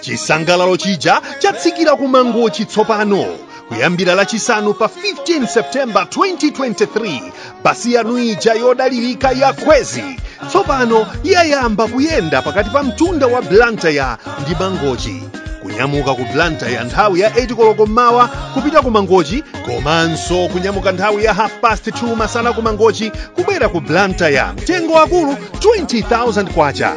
chisangalalo chija chatsikira ku mangochi tsopano kuyambira lachisanu pa 15 septemba 2023 basi yanu ija yodalirika ya kwezy tsopano yayamba kuyenda pakati pa mtunda wa blantyre ndi mangochi kunyamuka ku blantyre nthawi ya 8 koloko mmawa kupita ku mangochi komanso kunyamuka nthawi ya half past 2 masana ku mangochi kubwera ku blantyre mtengo akulu 20000 kwacha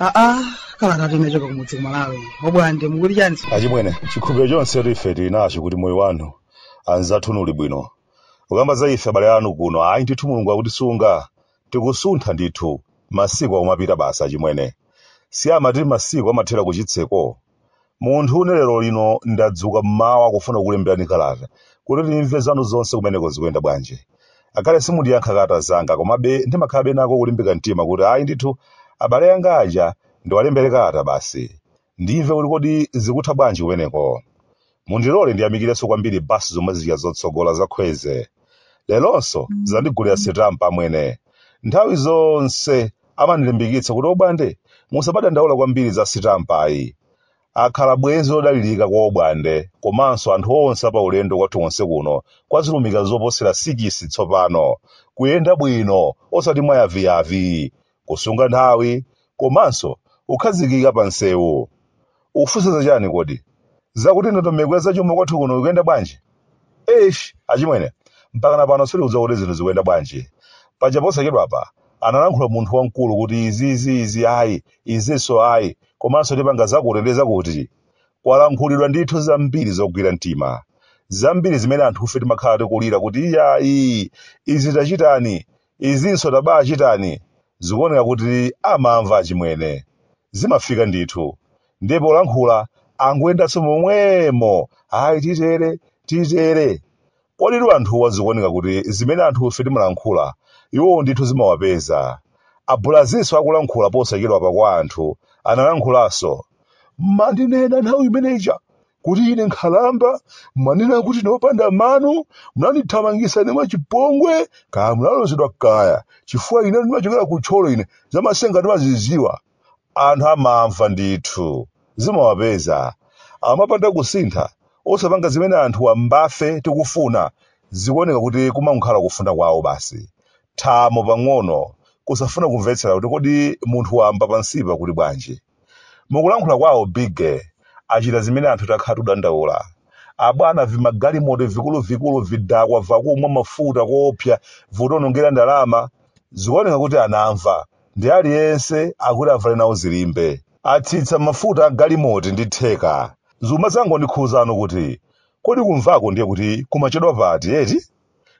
aa kalata tinachoka kumudzi ku malawi obwande mukuti chani achimwene chikhulupiriro chonse tife tili nacho kuti moyo wanu anzathu uli bwino ukamba za ife abale anu kuno ayi ndithu mulungu akutisunga Tikusuntha ndithu. Masiku akumapita basi achimwene. Si amati masiku amathera kuchitseko? Munthune lero lino ndadzuka m'mawa kufuna kukulemberani kalata kuti timve zanu zonse kumeneko zikuyenda bwanji. Ngakhale simundiyankha kalata zanga komabe ndimakhalabe nako kulimbika mtima kuti ayi ndithu abale anga aja ndiwalembere kalata basi. Ndimve kuti kodi zikutha bwanji kumeneko. Mundilole ndiyamikirenso kwambiri bus zomwe zija zotsogola za kwezy. Leronso zandigulira sitampa amwene. Nthawi zonse amandilimbikitsa kuti obwande musamadandaula kwambiri za sitampa ayi. Akhala bwenzi lodalirika kwa obwande komanso anthu onse apaulendo kwathu konse kuno kwa zilumika zoposera sikisi tsopano. Kuyenda bwino osati mwayaviyavi. kusunga nthawi komanso kukhazikika pa msewu ukufunsa za chani kodi zakuti ndondomeko ya zachuma kwathu kuno ikuyenda bwanji eish achimwene mpakana pano sitikudziwa kuti zinthu zikuyenda bwanji paja posachedwapa analankhula munthu wamkulu kuti izi izi izi ayi izinso ayi komanso tipanga zakuti ndi zakuti kwalankhulidwa ndithu zambiri zogwira mtima zambiri zimene anthufe timakhala tikulira kuti iyayi izi tachitani Izinso tabachitani zikuoneka kuti amamva achimwene. Zimafika ndithu. Ndiye polankhula angoyendanso momwemo ayi titere, titere. Koditu anthuwa zikuoneka kuti zimene anthufe timalankhula iwowo ndithu zimawapeza. A Bulazinso akulankhula posachedwapa kwa anthu analankhulanso. Mmandinena nthawi imene ija kuti ine nkhalamba mwanena kuti ndopanda mano munandithamangisa ine mwachipongwe kaya munalozedwa kaya chifukwa ine ndimachokera ku thyolo ine zamasenga ndimazidziwa anthu amamva ndithu zimawapeza amapanda kusintha osapanga zimene anthu wambafe tikufuna zikuoneka kuti kumakhala kufuna kwawo basi thamo pang'ono kusafuna kumvetsera kuti kodi munthu wamba pansipa akuti bwanji mukulankhula kwawo bigge achita zimene anthu takhala tikudandaula abwana vimagalimoto vikuluvikulu vidakwa vakumwa mafuta koopsa vikutionongera ndalama zikuoneka kuti anamva ndi aliyense akuti avale nawo dzilimbe atsitsa mafuta a galimoti ndi theka zuma zangondikhuzano kuti kodi kumvako ndiye kuti kumachedwa pati eti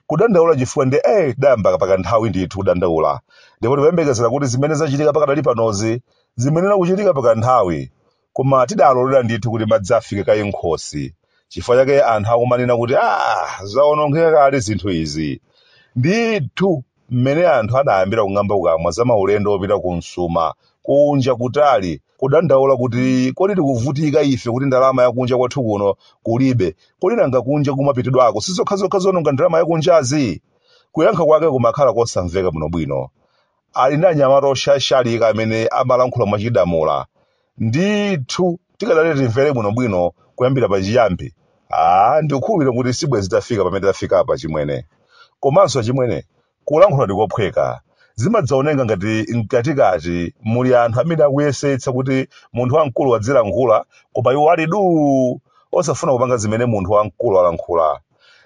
Kudandaula chifukwa ndi ee tidayamba pakanthawi ndithu kudandaula ndipo tikuyembekezera kuti zimene zachitika pakadali panozi zimayenera kuchitika pakanthawi koma tidalolera ndithu kuti madzi afike kaye m'khosi chifukwa chake anthu akumanena kuti aah zawonongeka kale zinthu izi ndithu mmene anthu adayambira kung'amba kukamwa za maulendo opita ku msuma, kunja kutali, kudandaula kuti kodi tikuvutika ife kuti ndalama ya kunja kwathu kuno kulibe, kodi nanga kunja kumapitidwako si zokhazokha zoononga ndalama ya kunjazi? Kuyankha kwake kumakhala kosamveka bwinobwino. Ali ndi anyamata oshashalika amene amalankhula mwachidamula. ndithu tikadalola timvere bwinobwino kuyambira pa chiyambi aa ndikukhulupirira kuti sibwe zitafika pamene tafika apa chimwene komanso chimwene kulankhula ndikophweka zimadzaoneka ngati mkatikati muli anthu amene akuyesetsa kuti munthu wamkulu adzilankhula koma iwo ali duu osafuna kupanga zimene munthu wamkulu alankhula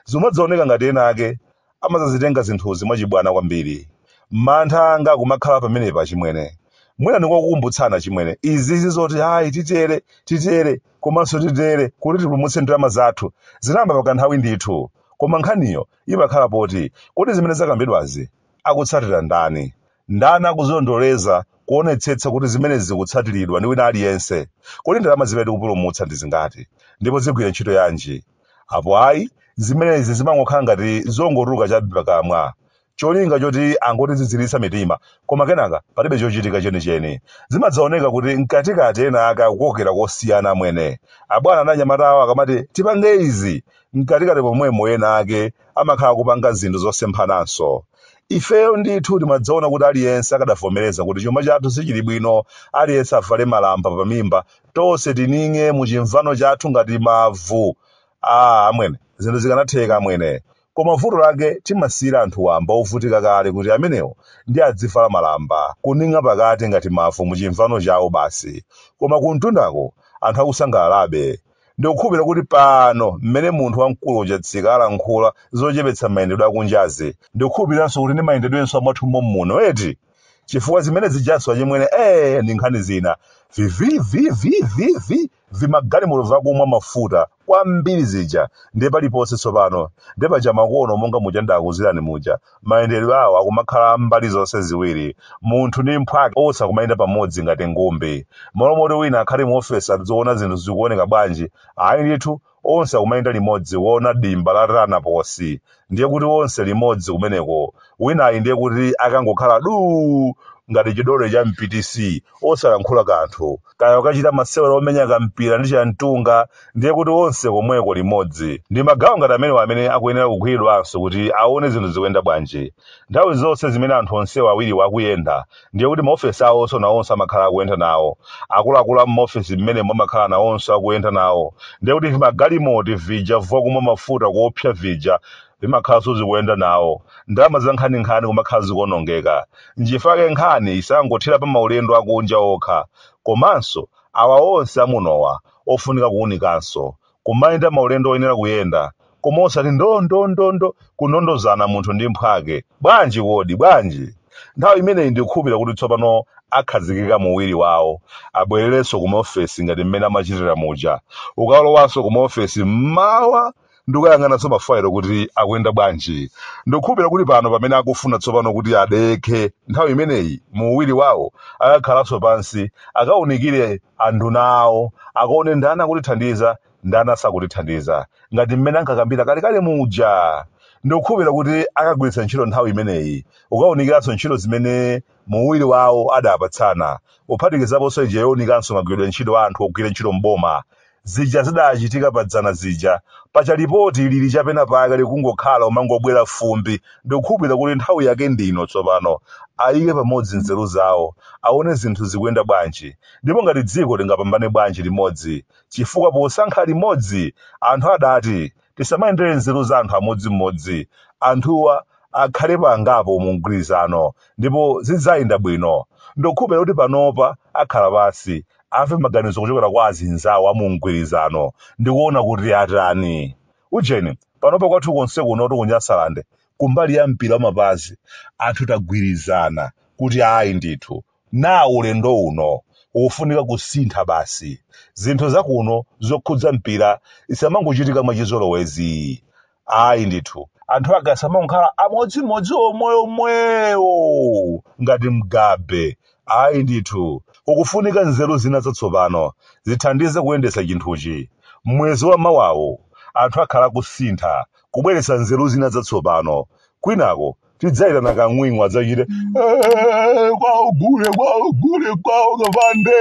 zimadzaoneka ngati ena ake amadzazitenga zinthuzi mwachibwana kwambiri. Mantha anga akumakhala pamenepa achimwene. Mwina ndingokukumbutsani achimwene, izi si zoti hayi titere, titere, komanso titere kuti tipulumutse ndalama zathu. Zinayamba pakanthawi ndithu. Koma nkhaniyo imakhala poti, kodi zimene zakambidwazi akutsatira ndani? Ndani akuzilondoleza kuonetsetsa kuti zimenezi zikutsatiridwa ndi wina aliyense? Kodi ndalama zimene tikupulumutsa ndi zingati? Ndipo zigwira ntchito yanji? apo ayi zimenezi zimangokhala ngati zongotuluka chabe pakamwa cholinga choti angotiziziritsa mitima koma kenaka palibe chochitika chenicheni zimadzaoneka kuti mkatikati ena ake akukokera kosiyana amwene abwana ndi anyamata awo akamati tipange izi mkatikati pomwemo ena ake amakhala kupanga zinthu zosemphananso ifeyo ndithu timadzaona kuti aliyense akadavomereza kuti chuma chathu sichili bwino aliyense avale malamba pamimba tonse tining'e mu chimvano chathu ngati mavu ah amwene zinthu zikanatheka amwene koma vuto lake timasiyira anthu wamba ovutika kale kuti amenewo ndiye adzivala malamba kuning'a pakati ngati mavu mu chimvano chawo basi koma kumtundako anthu akusangalalabe ndikukhulupirira kuti pano mmene munthu wamkulu uja tsika alankhula zochepetsa mayendedwe akunjazi ndikukhulupiriranso kuti ndi mayendedwenso amwathu mommuno eti chifukwa zimene zijaso achimwene ee ndi nkhani zina vivivivivivi vimagalimoto vakumwa mafuta kwambiri vija ndiye paliponse tsopano nde paja makono monga muja ndidakuuzirani muja mayendedwe awo akumakhala mbali zonse ziwiri munthu ndi mphwake onse akumayenda pamodzi ngati ngumbi malo moti wina akhale mu ofesi adziona zinthu zikuoneka bwanji ayi ndithu onse akumayenda limodzi kuona dimba la Tanaposi ndiye kuti onse limodzi kumeneko winayi ndiye kuti akangokhala duu ngati chidole cha MPTC osalankhula kanthu kaya kukachita masewero omenya kampira ndi chimtunga ndiye kuti onse komweko limodzi ndi magawo ngati amenewo amene akuyenera kugwiridwanso kuti aone zinthu zikuyenda bwanji nthawi zonse zimene anthu onsewo awiriwo akuyenda ndiye kuti maofesi awo nawonso amakhala akuyenda nawo akuluakulu a m'maofesi mmenemo amakhala nawonso akuyenda nawo ndiye kuti vimagalimoto vija vokumwa mafuta kuopsa vija vimakhalanso zikuyenda nawo ndalama za nkhaninkhani zimakhala zikuonongeka nchifake nkhani isangothere pa maulendo akunja okha komanso awa onse amunowa ofunika kuunikanso kumayenda maulendo oyenera kuyenda, koma osati ndo, ndo, ndo, ndo, kundondozana munthu ndi mphwake. Bwanji kodi? Bwanji? Nthawi imeneyi ndikukhulupirira kuti tsopano akhazikika mu uwiri wawo. Abwererenso ku maofesi ngati mmene amachitira muja. Kukalowanso ku maofesi mmawa ndi kukayang'ananso mafaelo kuti akuyenda bwanji. Ndikukhulupirira kuti pano pamene akufuna tsopano kuti adekhe nthawi imeneyi mu uwiri wawo akakhalanso pansi akaunikire anduna awo akaone ndani akutithandiza ndani asakutithandiza ngati mmene ankakambira kalekale muja ndikukhulupirira kuti akagwiritsa ntchito nthawi imeneyi kukawunikiranso ntchito zimene mu uwiri wawo adapatsana kuphatikizaponso ija yowunikanso magwiridwe ntchito a anthu ogwira ntchito m'boma zija zidachitika padzana zija paja lipoti lili chapenapake likungokhala kumangobwera fumbi Ndikukhulupirira kuti nthawi yake ndi ino tsopano, ayike pamodzi nzeru zawo, awone zinthu zikuyenda bwanji, ndipo ngati dziko tingapambane bwanji limodzi, chifukwa posankha limodzi, anthu adati, tisamayendere nzeru za anthu amodzimodzi, anthuwa akhalepo angapo mu mgwirizano ndipo zidzayenda bwino. Ndikukhulupirira kuti panopa akhala pansi, amve maganizo kuchokera kwa azinzawo a mu mgwirizano ndi kuona kuti atani. Ujeni, panopa kwathu konse kunotu ku Nyasalande kumbali ya mpira wamapazi anthu tagwirizana kuti ayi ndithu naye ulendo uno wofunika kusintha basi. Zinthu za kuno zokhudza mpira zisamangochitika mwachizolowezi. Ayi ndithu. Anthu ake asamangokhala amodzimodzi omweomwewo ngati Mugabe. Ayi ndithu, kukufunika nzeru zina zatsopano zithandize kuyendetsa chinthuchi. M'mwezi wa mawawu, anthu akhala akusintha, kubweretsa nzeru zina zatsopano. Kwinako tidzayitana kang'wing'wa adzachite, Eeeh, kwawo gule, kwawo gule, kwawo kapande!